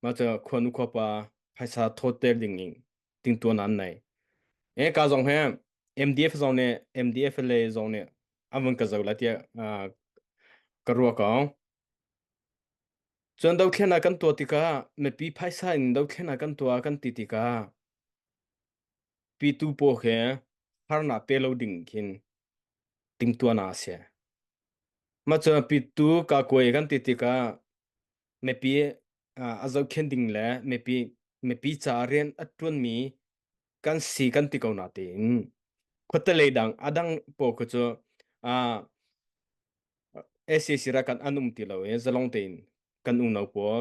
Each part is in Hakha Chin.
Mah cu khuanu khuapa phaisa thawter ding in tingtuan nan nei. Eh ka zong he MDF zong ne MDF le zong ne an vun ka zo la tiah ka ruah ko. Cun dothlen ah kan tuah tikah mipi phaisa in dothlen ah kan tuah kan ti tikah Pitu paw he harnak pe lo ding khin timtuahnak a si. Mah cun pitu kaa kuai kan ti tikah mipi ah a zohkhenh ding le mipi mipi caah rian a ṭuanmi kan si kan ti ko natein khuatelei dang a dang paw khu cu ah SAC rak kan an um ti lo i zalong tein kan unau pawl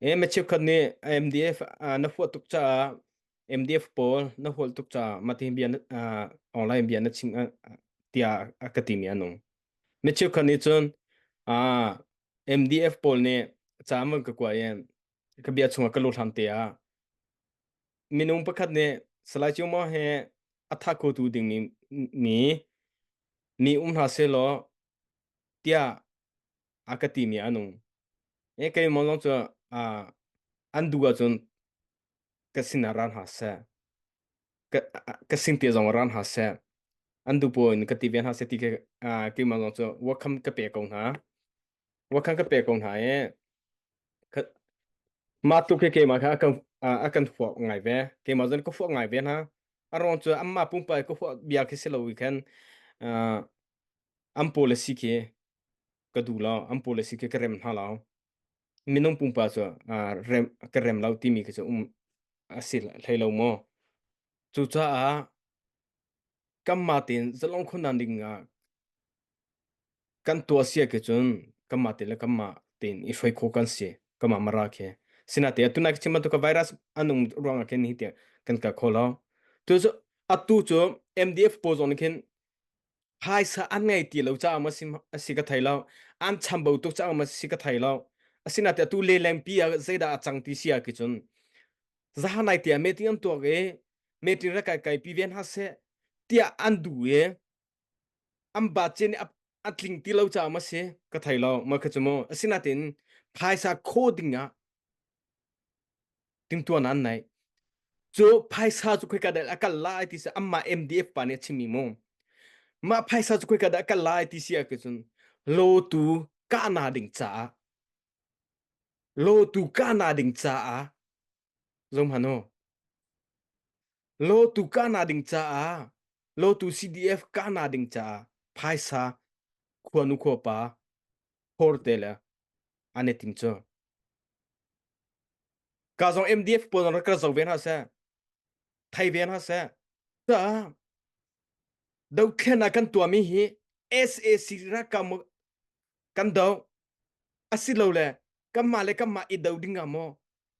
Eh mi cheukhat nih MDF ah na huah tuk caah MDF pawl na hual tuk caah mati bia na, ah, online bia na chim ah, tiah a ka timi anung. Mi cheukhat nih cun ah, MDF pawl nih caman ka kuai in ka bia chungah ka luhlam te ah minung pakhat nih Salai Cio Maw he a tha ko tu ding mi mi mi um hna selaw tiah a ka timi a nung e keimah lawng cu a an duh ahcun ka sin ah ra hna seh ka ka sin te zong ra hna seh an duh pawl in ka ti ve hna seh ti ke ah, keimah lawng cu welcome ka pe ko hna welcome ka pe ko hna e ka- mah tluk khi keimah kha a kan a a kan huak ngai ve keimah zong ka huak ngai ve hna a ruang cu anmah pumpak i ka huak bia khi si lo i khan ah, an policy khi ka duh lo an pu le si ke ka rem hna lao minung pumpa cu ah, rem ka rem lo timi khi cu um a si hlei lo maw cucaah kanmah tein zalong khunnan ding ah kan tuah sia ke cun kanmah te le kanmah tein i hruai kho kan si kanmah mara khi sinaite atu nai chim bantuk ka virus anung ruang ah khin hi tiang kan ka kho lo tu cu atu cu MDF pawl zong nih khin phaisa an ngei ti lo caah ma si asi ka thei lo an chambau tuk caah ma si ka thei lo asinain atu lelengpi ah zeidah a cang ti si ah ki cun zahanai tia meeting an tuak i meeting ra kai kai pi ve hna se tiah an du i an ba chen a a tling ti lo caah ma si ka thei lo ma kha cu mu asinain phaisa kho ding ah tingtuan an nai cu phaisa cu khoi ka dal akal lai ti se amma MDF pa ne chimi mu ma phaisa cu khoi ka dal akal lai ti si ke chun lo tu ka na ding cha lo tu ka na ding cha a zom hano lo tu ka na ding cha a lo tu CDF ka na ding cha phaisa khuanu kho pa hor te le an i tim cu ka zong MDF pawl rak ka zo ve hna seh thai ve hna seh caah dothlen ah kan tuahmi hi SAC ralkap kan do asilo le kanmah le kanmah i do ding ah maw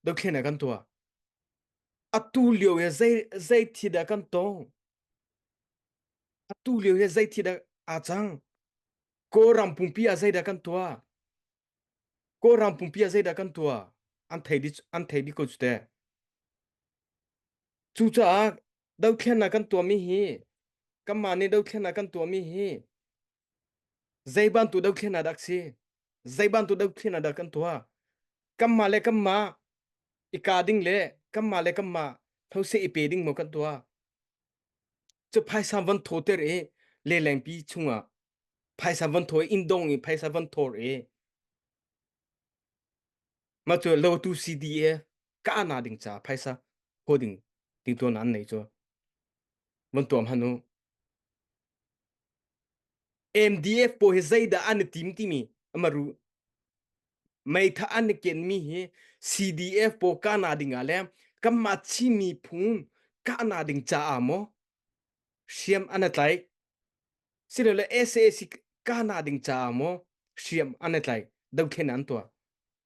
dothlen ah kan tuah atu lio he zei zei thi dah kan tong atu lio he zei thi dah a cang Kawlram pumpi ah zeidah kan tuah? Kawlram pumpi ah zeidah kan tuah? An thei di an thei di ko cu te. Cucaah dothlennak kan tuahmi hi kanmah nih dothlennak kan tuahmi hi zei bantuk dothlennak dah si? Zei bantuk dothlennak dah kan tuah? Kanmah le kanmah i kaa ding le kanmah le kanmah those i pe ding maw kan tuah? cu phaisa van tho ter i lelengpi chungah phaisa van tho in dong i phaisa van thor i ma cu lotu CDA ka ana ding ca phaisa ho ding ding to nan nei cu van tuam hanu MDF pawl hi zeidah an i tim timi amaru meitha an i ken mi hi CDF pawl kana ding ah le kanmah Chin miphun kahna ding caah maw hriam an i tlaih silole SAC kahna ding caah maw hriam an i tlaih dothlen an tuah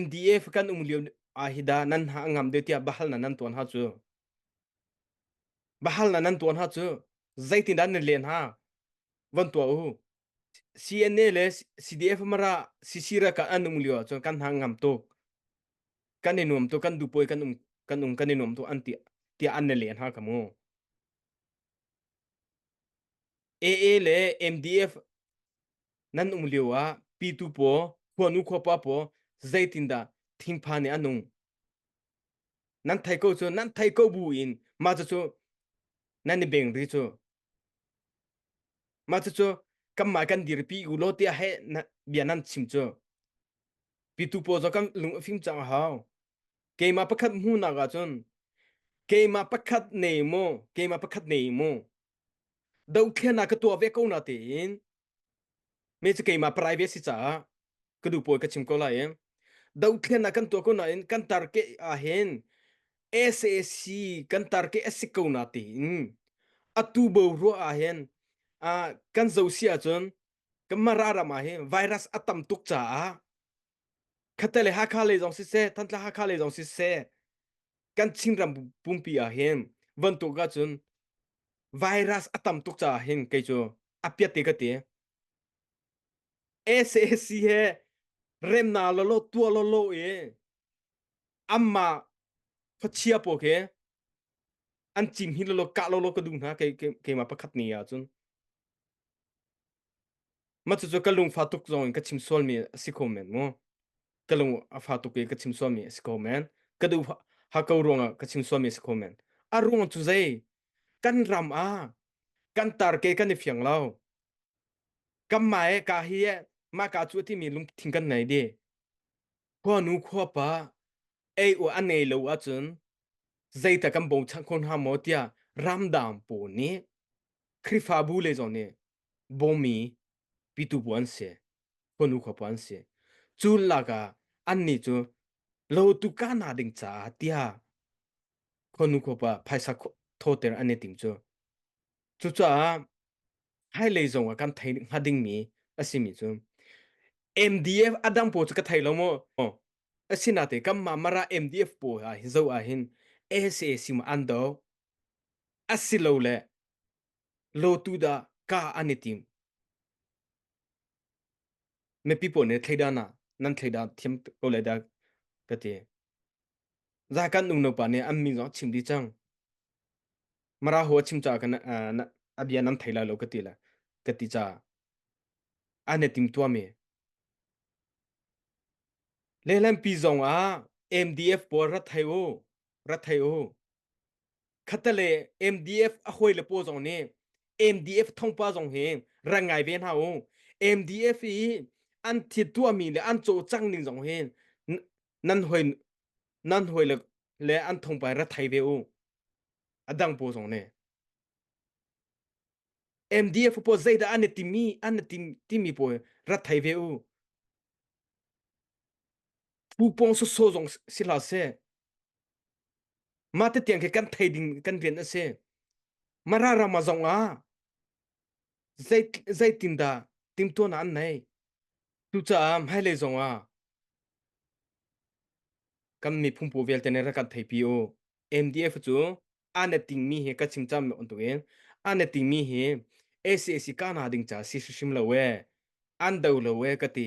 MDF kan um lio ah hi dah nan ha ngam deuh tiah bahal na nan tuan ha cu bahal na nan tuan ha cu zeitin dah nan len ha von tuah u CNA le CDF mara sisira ka an um lio cun kan ha ngam tuk kan i nuam tu kan du poi kan um kan um kan i nuam tu an tia tia an ne len ha ka mu AA le MDF nan um lio ah pitu paw khuanu khuapa paw zeitindah thingpha nih a nung nan thei ko cu nan thei ko bu in mah cucu nan i beng ri cu mah cucu kanmah kan dirpi u law tiah he bia nan chim cu pitu paw zo kan lung a fim cang a hau keimah pakhat hmuhnak ah cun keimah pakhat nei maw keimah pakhat nei maw Dohthlennak ka tuah ve ko na tein me cu keimah parai ve si caah ka duh pawi ka chim ko lai i dohthlennak kan tuah ko nain kan tar ke ahhin SAC kan tar ke a si ko na tein atu bo ruah ahhin ah kan zo si ahcun kan mara ram ahhin virus a tam tuk caah Khatte le Hakha lei zong siseh, Thantlang Hakha lei zong siseh, kan Chinram pumpi ah hin vantuk ahcun virus a tam tuk caah hin kei cu a piat te ka ti. SAC he remna lawlaw tuah lawlaw i anmah khuachia pawl khi an cim hi lawlaw kah lawlaw ka duh hna kei keimah pakhat ni ahcun. Mah cucu ka lungfa tuk zongin ka chim sualmi a si ko men mu. Ka lung a fa tuk i ka chim sualmi a si ko men. Ka duh hako ruangah ka chim sualmi a si ko men. A ruang cu zei? Kan ram ah kan tar ke kan i fiang lo. Kanmah e ka hi e mah ka cu a timi lungthin kan nei di. Khuanu khuapa ei u a nei lo ahcun zeita kan bawmchanh khon hnga maw tiah ramdang pawl nih Khrihfabu le zong nih bawmmi pitu bu an si, khuanu khuapa an si. Cu lakah annih cu lotu kahna ding caah tiah khuanu khuapa phaisa thawter an i tim cu. Cucaah hmailei zong ah kan thei hnga dingmi a simi cu MDF a dang pawl cu ka thei lo maw? Asinate kanmah Mara MDF pawl ah zoh ahhin SAC maw an do, Asilole lotu dah ka an i tim? Mipi pawl nih thleidan ah nan thleidan thiam ko lai dah ka ti. Za kan unaupa nih an min zong a chim dih cang. Mara ho a chim caah kan uh, na, a bia nan thei lai lo ka ti le ka ti caah an i timtuami lehlampi zong ah MDF pawl rat thai u. ra thei u khatale MDF a hoi le paw zong nih MDF thongpa zong hi ran ngai ve hna u MDF i an thit tuahmi le an cawh cang ning zong hi nan hoi nan hoi le le an thongpa ra thai ve u adang paw zong ne MDF paw zeidah an timi an timi paw ra thai ve u Pupong sawsawh zong si hlah seh. Mah te tiang khi kan thei ding kan rian a si. Mara rama zong ah zei zeitindah timtuan an nei. Cucaah hmailei zong ah kan mi phungpo vialte ne ra kan thei pi o. MDF cu ane ting mi hi ka chim cham on tukin ane ting mi hi ACAC ka na ding cha si sim lo we an do lo we ka ti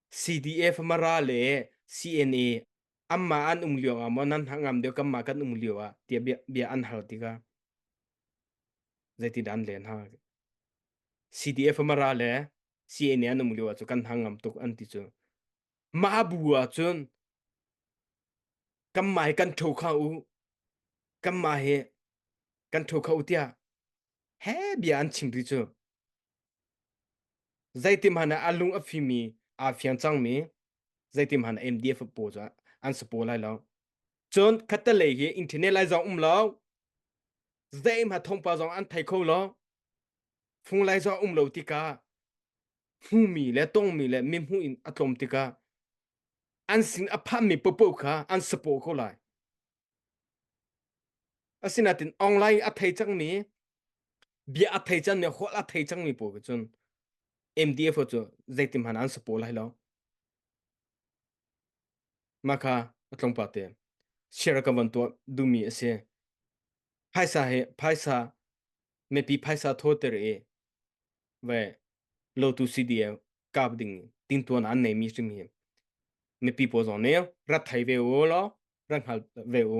CDF mara le CNA anmah an um lio ah maw nan ngam deuh kanmah kan um lio ah tia bia, bia an hal tikah zeitin an len ha CDF mara le CNA an um lio ah cu kan hang ngam tuk an ti cu mah bu ah cun kanmah hi kan ṭho kha u kanmah hi kan ṭho kha u tiah he bia an chim ti cu Zeitihmanh ah a lung a fimi aa fiang cangmi zeitihmanh ah MDF a paw cu an sapaw lai lo. Cun khattelei hi internet lai zong um lo, zeihmah thongpa zong an thei kho lo, fung lai zong um lo tikah hmuhmi le tongmi le mihmuh in a tlawm tikah an sin a phanmi papaw kha an sapaw ko lai. Asinain online a thei cangmi bia a thei cangmi hual a thei cangmi pawl cu cun MDF cu zeitin hmanh an support lai lo. Mah kha a tlungpa te share ka van tuah duhmi a si. Phaisa he phaisa mipi phaisa thawter i ve lotu si di kap ding tin tuan an nei mi sim hi mipi pawl zong nih rat thai ve u law rat hngal ve u